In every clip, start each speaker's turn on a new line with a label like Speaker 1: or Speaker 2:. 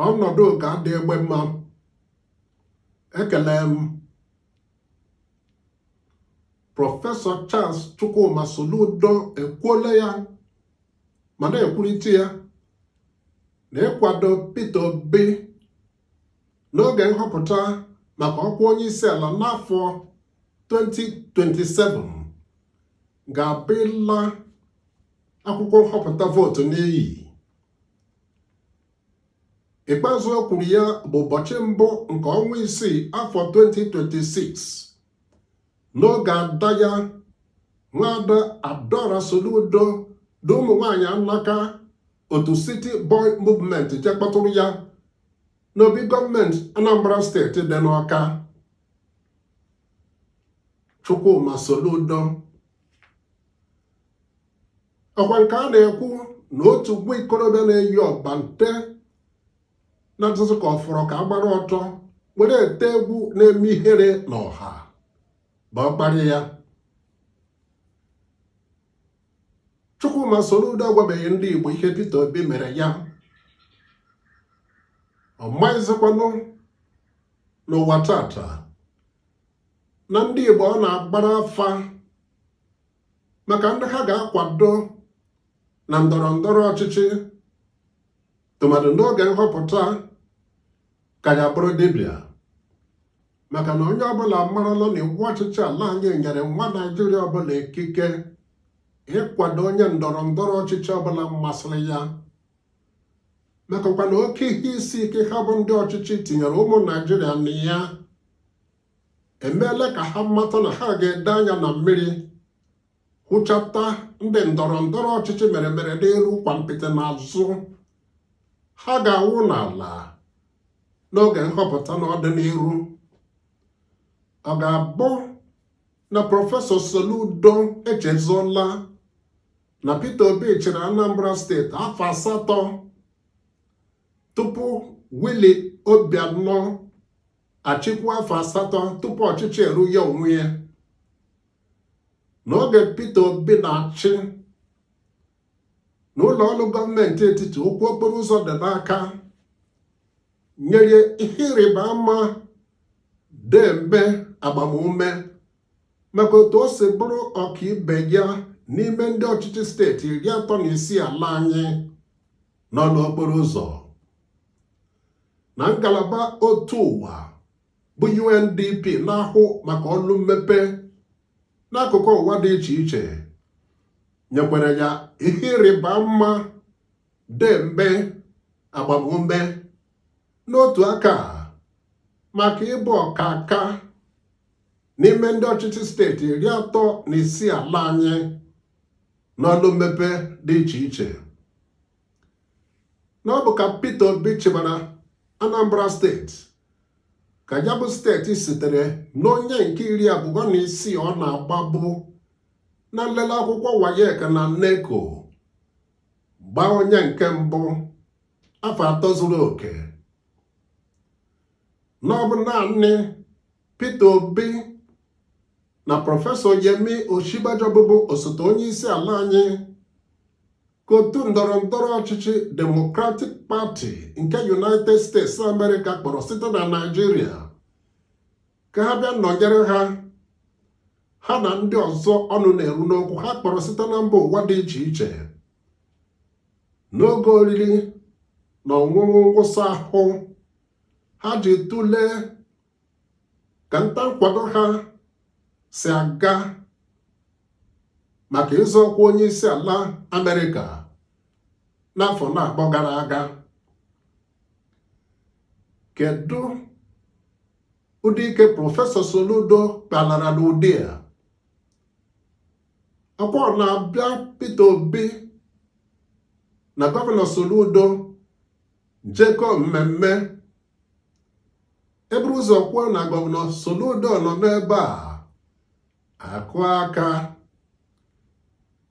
Speaker 1: ọnọdụ ga-adị egbe mma ekele m prọfesọ Charles Chukwuma Soludo ekwuola ya ma na-ekwurịta ya na ịkwado Peter Obi n'oge nhọpụta maka ọkwa onye isi ala n'afọ 2027 ga-abụ ịla akwụkwọ nhọpụta vootu n'iyi ikpeazụ o kwuru ya bụ ụbọchị mbụ nke ọnwa isii afọ 2026 n'oge ada ya nwaada Adaora Soludo na ụmụ nwanyị alaka otu City Boy Movement je kpọtụrụ ya n'obi gọọmenti Anambra steeti dị n'Ọka Chukwuma Soludo ọkwa nke a na-ekwu na otu nwa ikorobịa na-eyi ọbante na-ezuzu ka ọ fọrọ ka a gbara ọtọ were ete egwu na-eme ihere n'ọha bụ ọkparị ya Chukwuma Soludo agwabeghị ndị Igbo ihe Peter Obi mere ya ọ maghịzikwanụ n'ụwa tata na ndị Igbo ọ na-agbara afa maka ndị ha ga-akwado na ndọrọ ndọrọ ọchịchị tụmadụ n'oge nhọpụta ka ya bụrụ dibịa maka na onye ọbụla marala na iwu ọchịchị ala anyị nyere nwa Naịjirịa ọbụla ikike ịkwado onye ndọrọ ndọrọ ọchịchị ọbụla masịrị ya makakwa na oke ihe isi ike ha bụ ndị ọchịchị tinyere ụmụ Naịjirịa na ya emeela ka ha mata na ha ga-ede anya na mmiri hụchata ndị ndọrọ ndọrọ ọchịchị mere mere n'iru kwampịtị n'azụ ha ga-awụ n'ala n'oge nhọpụta n'ọdịniru ọ ga-abụ na prọfesọ Soludo echezọla na Peter Obi chịrị Anambra steeti afọ asatọ tupu Willie Obianọ achịkwu afọ asatọ tupu ọchịchị eru ya onwe ya n'oge Peter Obi na-achị na ụlọ ọrụ gọọmenti etiti okwu okporo ụzọ dị n'aka nyere ihe ịrịba ama deeme agbamume maka otu o si bụrụ ọkaibe ya n'ime ndị ọchịchị steeti iri atọ na isii ala anyị n'ọlụ okporo ụzọ na ngalaba otu ụwa bụ UNDP na-ahụ maka ọlụ mmepe n'akụkụ ụwa dị iche iche nyekwara ya ihe ịrịba ama deeme agbamume n'otu aka maka ịbụ ọkaka n'ime ndị ọchịchị steeti iri atọ na isii ala anyị n'ọlụ mmepe dị iche iche na ọ bụ ka Peter Obi chịbara Anambra steeti ka ya bụ steeti sitere n'onye nke iri abụọ na isii ọ na-agbabu na nlele akwụkwọ WAEC na NECO gbaa onye nke mbụ afọ atọ zuru oke na ọ bụ naanị Peter Obi na prọfesọ Yemi Osinbajo bụbu osote onye isi ala anyị ka otu ndọrọ ndọrọ ọchịchị Democratic Party nke United States America kpọrọ site na Naịjirịa ka ha bịa nọnyere ha ha na ndị ọzọ ọnụ na-eru n'okwu ha kpọrọ site na mba ụwa dị iche iche n'oge oriri na ọṅụṅụ ngwụsị ahụ ha ji tụlee ka nta nkwado ha si aga maka ịzọ ọkwa onye isi ala Amerịka n'afọ na-akpọ gara aga kedu ụdị ike prọfesọ Soludo kpalara n'ụdị a ọ kwa na-abịa Peter Obi na gọvanọ Soludo jekọọ mmemme e buru ụzọ kwuo na gọvanọ Soludo nọ n'ebe a a kụọ aka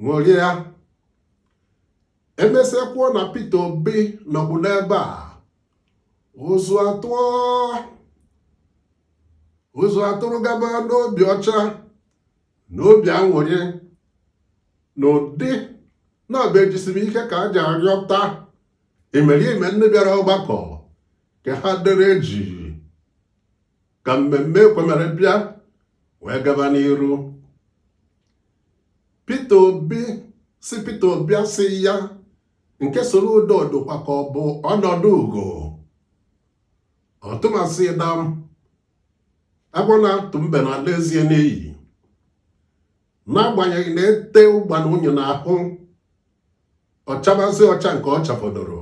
Speaker 1: ṅụrịa e mesịa kwuo na Peter Obi nọkwu n'ebe a ụzụ atụọ ụzụ atụrụ gaba n'obi ọcha na obi aṅụrị n'ụdị na-abụghị ejisiri ike ka e ji arịọta imerime ndị bịara ọgbakọ ka ha dere jii ka mmemme ekwemere bịa wee gaba n'iru Peter Obi si Peter Obi asị ya nke Soludo dịkwa ka ọ bụ ọnọdụ ugo ọtụmasị dam agwọ na-atụ mbe na-ala eze ya n'iyi n'agbanyeghị na e tee ụgbana unyi n'ahụ ọ chabazie ọcha nke ọ chafọdoro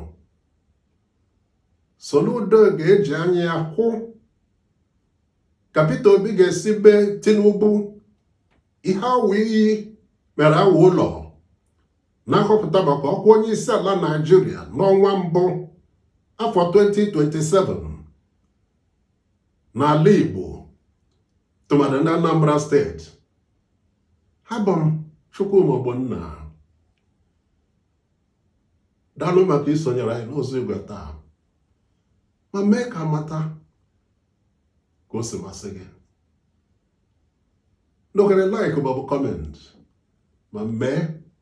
Speaker 1: Soludo ga-eji anya ya hụ ka Peter Obi ga-esi mee Tinubu ihe awọ iyi mere awọ ụlọ na nhọpụta maka ọkwa onye isi ala Naịjirịa n'ọnwa mbụ afọ 2027 n'ala Igbo tụmadị na Anambra steeti abụ m Chukwuma Ogbonna daalụ maka isonyere anyị n'ụzọ igwe taa ma mee ka m mata ka o si masị gị n'oghere like maọbụ kọment ma mee